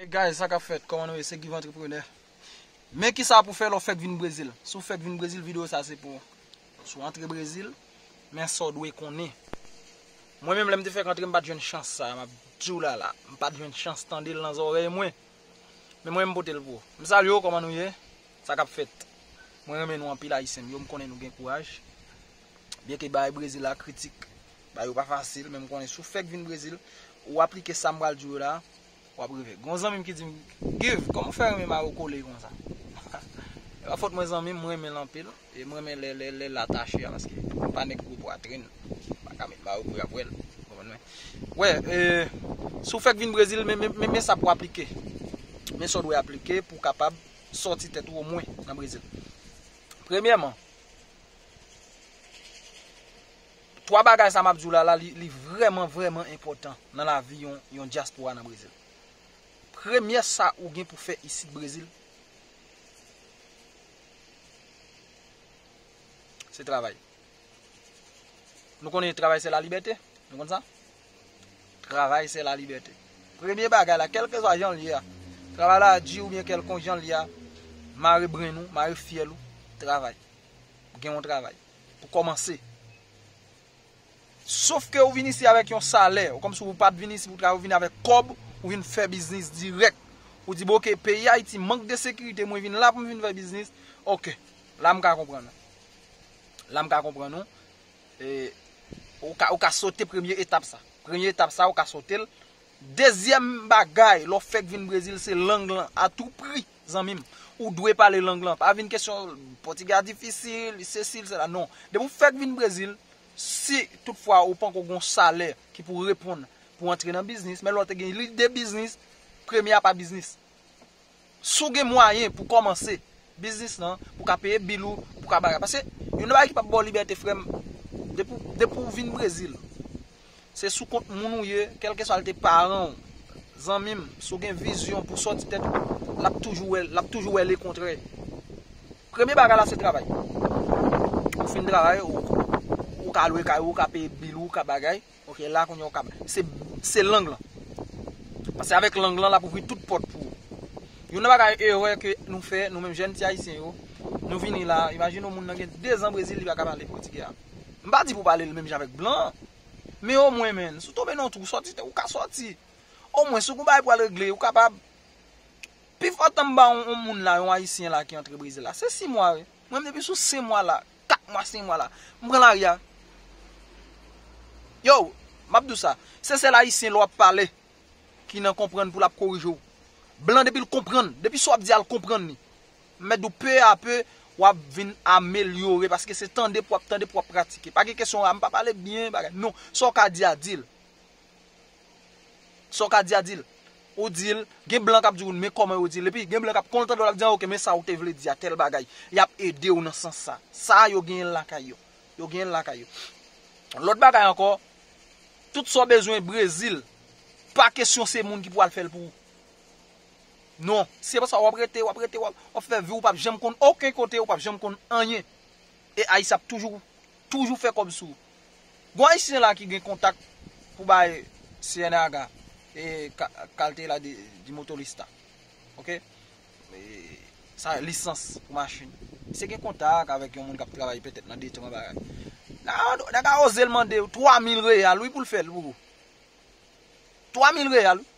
Hey guys sa kap fèt kòman nou ye se Give Entrepreneur men kisa pou fè lè w fèk vin brezil si w fèk vin brezil video sa se pou ou si w antre brezil men sa w dwe konnen mwen menm lè m te fèk antre m pat jwenn chans sa map di w la la m pat jwenn chans tande l nan zòrèy mwen men mwen m pote l pou ou m salye w kòman nou ye sa kap fèt mwen renmen nou anpil ayisyen m yo m konnen nou gen kouraj byen ke bagay brezil la kritik bagay yo pa fasil men m konnen si w fèk vin brezil ou aplike sa m pral di w yo la Wap rive. Gon zanmim ki dim Give koman w fè renmen mayo kole konsa? E pa fot mwen zanmim m renmen l anpil e m renmen lè l atache a paske m pa nèg gwo pwatrin m paka met mayo pou yap wè l ou konprann mwen. Wè e si w fèk vin Brezil men sa pou w aplike men sa w dwe aplike pou w kapab sòti tèt ou omwen nan Brezil. Premyèman. 3 bagay sa map diw la la li vrèman vrèman enpòtan nan lavi yon yon dyaspora nan Brezil. Premyè sa ou gen pou fè isit Brezil se travay. Nou konnen travay se la libète, nou konn sa? Travay se la libète. Premye bagay la kelke zwa jan li a, travay la di ou byen kelkon jan li a, mare brenn ou, mare fyèl ou, travay. Gen yon travay. Pou kòmanse. Sof ke ou vin isi avèk yon salè. Ou kòmsi ou pat vin isi pou travay, ou vin avèk kòb, ou vin fè biznis dirèk. Ou di bon ok, peyi Ayiti mank de sekirite, mwen vin la pou m vin fè biznis. Ok, la m ka konprann ou. La m ka konprann ou. E, ou ka sote premye etap sa. Premye etap sa ou ka sote l. Dezyèm bagay, lè w fèk vin Brezil, se lang lan. A tou pri. Zanmim, ou dwe pale lang lan. Pa vin kesyon pòtigè a difisil, li sesi, li sela. Non. Depi ou fèk vin Brezil, si tout fwa ou panko gon salè ki pou reponn pou antre nan biznis, men lè ou te gen lide biznis, premye a pa biznis. Si ou gen mwayen pou kòmanse biznis lan, pou ka peye bil ou, pou ka bagay. Pase, yon nan bagay ki pap ba ou libète frèm, depi ou vin Brezil, Se sou kont moun ou ye, kèlkeswa l te paran w, zanmi m, si w gen vizyon pou w sòti tèt ou, l ap toujou wè, l ap toujou wè lekontrè. Premye bagay la se travay. Ou fin travay, ou ka lwe kay ou, ou ka peye bil ou, ou ka bagay, ok, la kounye a ou ka ba. Se, se lang lan. Pase avèk lang lan l ap ouvri tout pòt pou ou. Youn nan bagay erè ke nou fè, nou menm jèn ti Ayisyen yo, nou vini la, imajine w moun nan gen dezan Brezil li pa ka pale pòtigè a. M pa di pou pale l menm jan avèk blan an. Men omwen menn, si w tonbe nan yon twou, sòti te ou ka sòti. Omwen, si w gen yon bagay pou al regle, ou kapab. Pi fò tan m ba yon moun la, yon Ayisyen la ki antre Brezil la, se 6 mwa wi. Mwen menm depi sou 5 mwa la, 4 mwa, 5 mwa la, m pran lari a. Yow, m ap di w sa, se sèl Ayisyen lè w ap pale ki nan konprann pou l ap korije w. Blan depi l konprann, depi sa w ap di a l konprann li. Mèt dou peu a peu wap vin amelyore paske se tande pou wap tande pou wap pratike. Pa gen kesyon a m pa pale byen bagay non sa w ka di a di l. Sa w ka di a di l. Ou di l gen blan kap di w men kòman yo di l epi gen blan kap kontan lap di w ok men sa w te vle di a tèl bagay yap ede w nan sans sa. Sa yo genyen lakay yo. Yo genyen lakay yo. Lòt bagay ankò tout sa w bezwen Brezil pa kesyon se moun ki pou al fè l pou ou. Non, se pa sa wap rete, wap rete, wap fè vi ou pap janm konn oken kote, ou pap janm konn anyen. E Ayisyen ap toujou, toujou fè kòb sou ou. Gon Ayisyen la ki gen kontak pou bay CNAH e Cartela de Motorista. Ok? Sa e lisans pou machin. Se gen kontak avèk yon moun kap travay petèt nan detran bagay. Nèg a oze l mande ou 3000 real wi pou l fè l pou ou. 3000 real wi.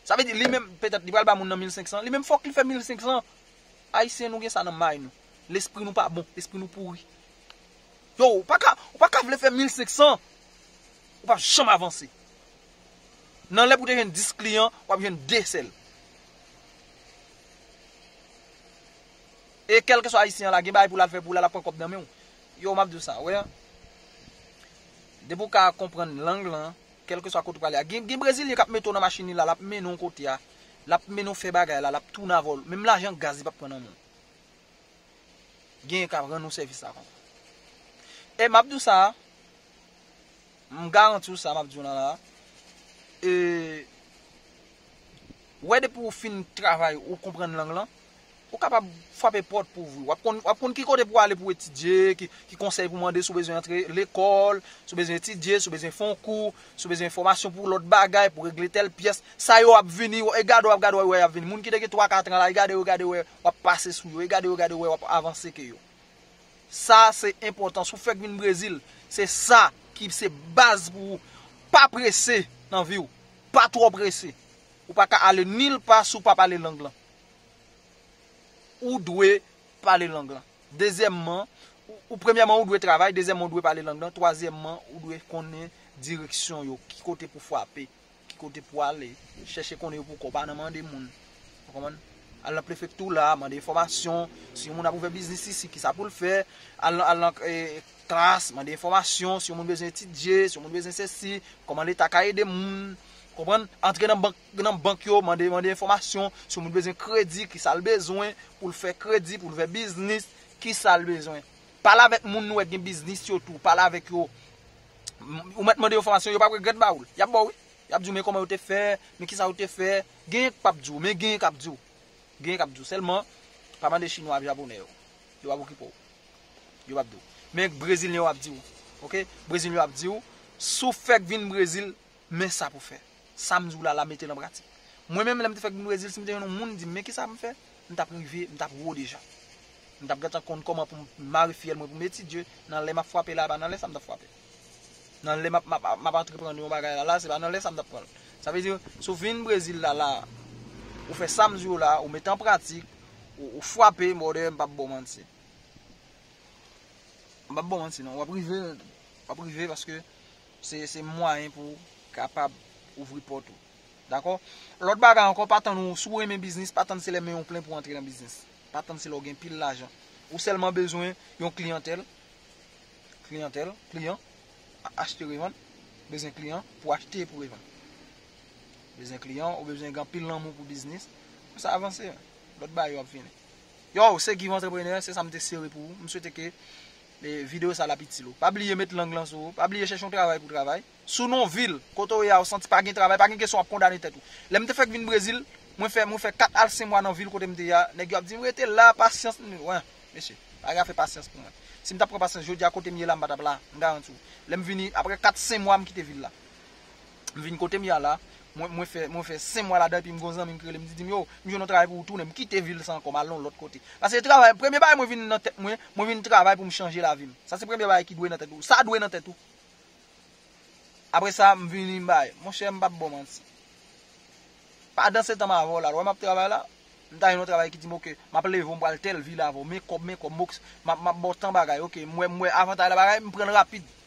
Sa vle di li menm petèt li pral ba moun nan 1500, li menm fòk li fè 1500. Ayisyen nou gen sa nan may nou. Lespri nou pa bon, lespri nou pouri. Yow, ou pa ka, ou pa ka vle fè 1500, ou p ap janm avanse. Nan lè pou te jwenn 10 kliyan, w ap jwenn 2 sèl. E kèlke swa ayisyen an la gen bagay pou l al fè pou l al ap pran kòb nan men ou. Yow, m ap di w sa, wè. Depi ou ka konprann lang lan, Kèlkeswa kote ou prale a. Gen gen brezilyen kap mete w nan machin li la, lap mennen w kote a, lap mennen w fè bagay la, lap tounen avè w, menm lajan gaz li pap pran nan men w. Genyen kap rann ou sèvis la konsa. E map di w sa, m garanti w sa map di w lan la, e wè depi ou fin travay ou konprann lang lan, Ou kapab frape pòt pou ouvri. Wap konn wap konn ki kote pou ale pou etidye, ki konsèy pou mande si w bezwen antre lekòl, si w bezwen etidye, si w bezwen fè yon kou, si w bezwen enfòmasyon pou lòt bagay, pou regle tèl pyès. Sa yo ap vini, e gade w ap gade w wè y ap vini. Moun ki te gen 3, 4 an la, e gade yo gade wè w ap pase sou yo, e gade yo gade wè w ap avanse ke yo. Sa se enpòtan. Si w fèk vin Brezil, se sa ki se baz pou ou. Pa prese nan vi w. Pa twò prese. Ou pa ka ale nil pa si w pap ale lang lan. ou dwe pale lang lan. Dezyèmman, ou premyèman ou dwe travay, dezyèmman ou dwe pale lang lan, twazyèmman ou dwe konnen direksyon yo, ki kote pou fwape, ki kote pou ale, chèche konnen yo pou kò, pa nan mande moun. Ou konprann? Al nan prefektou la, mande enfòmasyon, si yon moun ap ouvè biznis isi, kisa pou l fè, al nan klas, mande enfòmasyon, si yon moun bezwen etidye, si yon moun bezwen sesi, kòman leta ka ede moun, ou konprann? Antre nan bank. Nan bank yo mande mande enfòmasyon sou moun bezwen kredi kisal bezwen poul fè kredi poul fè biznis kisal bezwen pale avèk moun nou wè gen biznis yo tou pale avèk yo ou mèt mande enfòmasyon yo pap regrèt bawoul yap baw wi yap diw men kòman yo te fè men kisa yo te fè genyen k pap diw men genyen kap diw genyen kap diw sèlman pa mande chinwa ak japonè yo yo pap okipe w yo pap diw men brezilyen yo ap diw ok brezilyen yo ap diw sou fèk vin brezil Men sa pou fè. Sa m di w la la mete l an pratik. Mwen menm lè m te fèk vin Brezil si m te jwenn yon moun di m men kisa pou m fè, m t ap rive, m t ap wo deja. M t ap gentan konn kòman pou m mare fiyèl mwen pou m etidye, nan lè m ap frape la e pa nan lè sa m t ap frape. Nan lè m ap m ap m ap antreprann yon bagay la la se pa nan lè sa m t ap pran l. Sa vle di si w vin Brezil la la ou fè sa m di w la ou mete an pratik, ou frape brother m p ap ba w manti. M p ap ba w manti non. W ap rive, w ap rive paske. Se mwayen pou ou kapab ouvri pòt ou. Dakò? Lòt bagay ankò, pa tann ou, si ou renmen biznis, pa tann se lè men ou plen pou antre nan biznis. Pa tann se lè ou gen pil lajan. Ou sèlman bezwen yon kliyantèl, kliyantèl, kliyan, achte revann, bezwen kliyan pou achte pou revann. Bezwen kliyan, ou bezwen gen anpil lanmou pou biznis, pou sa avanse. Lòt bagay yo ap vini. Yow, se Guy Entrepreneur, se sa m te sere pou ou. M swete ke Video sa la ap itil ou. Pa bliye met lang lan sou ou. Pa bliye chèche yon travay pou travay. Sou non vil, kote ou ye a ou santi pa gen travay, pa gen kesyon wap kondane tèt ou. Lèm te fèk vin Brezil, mwen fè mwen fè 4 al 5 mwa nan vil kotem te ye a, nèg yo ap dim rete la, pasyans, m di wen, mesye, pa gen afè pasyans pou mwen. Sim tap pran pasyans jodi a kotem ye la m pa tap la, m garanti ou. Lèm vini, aprè 4 5 mwa m kite vil la. M vin kote m ye a la, mwen fè sen mwa ladan epi m gen yon zanmi m ki rele m di di m yo, m jwenn yon travay pou ou tounen, m kite vil sa ankò m al nan yon lòt kote. Sa se travay, premye bagay mwen vin nan tèt mwen, mwen vin travay pou m chanje lavi m. Sa se premye bagay ki dwe nan tèt ou. Sa dwe nan tèt ou. Apre sa, m vini m bay. Monchè, m pap ba w manti. Padansetan m avè w la, ou wè m ap travay la, m ta jwenn yon travay ki di m ok, m ap leve w m pral tèl vil avè w, men kòb men kòb, m ap ba w tan bagay, ok, m wè avantay nan bagay, m pran l rapid.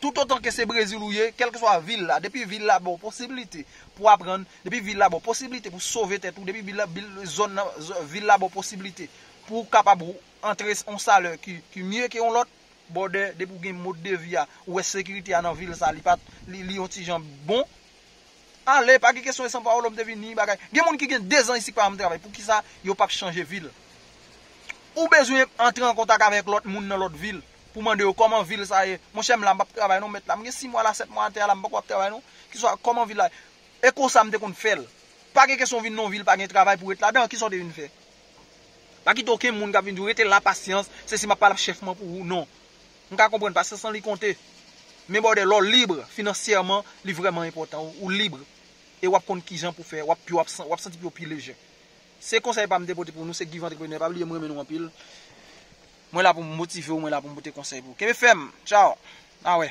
Toutotan ke se Brezil ou ye, kèlkeswa vil la, depi vil la ba w posibilite pou w aprann, depi vil la ba w posibilite pou sove tèt ou, depi vil la, bil, zòn nan, zòn, vil la ba w posibilite pou w kapab ou antre yon salè ki, ki mye ke yon lòt, bòdè, depi w gen mode de vi a, ou wè sekirite a nan vil sa, li pa, li, li yon ti jan bon, ale, pa gen kesyon e San Paolo m te vini, bagay. Gen moun ki gen 2 zan isit pa janm travay, poukisa yo p ap chanje vil? Ou bezwen antre an kontak avèk lòt moun nan lòt vil. pou mande yo kòman vil sa ye, monchè m la m pap travay non mèt la, m gen 6 mwa la 7 mwa atè a la m poko ap travay non, ki sa kòman vil la ye, e konsa m te konn fè l, pa gen kesyon w vin nan yon vil pa gen travay pou ret ladan an, ki sa w te vin fè? Pa kite okenn moun k ap vin di w rete la pasyans, se si m ap pale ak chèf mwen pou ou non, m ka konprann pasyans lan li konte, men bòdè lè w libre finansyèman li vrèman enpòtan, ou libre e w ap konn kijan pou fè, w ap santi pye w pi lejè. Se konsèy pam te pote pou nou se Guy vantreprenè pa bliye m renmen nou anpil mwen la pou m motivew mwen la pou m pote konsèy pou ou kenbe fèm tchaww na wè.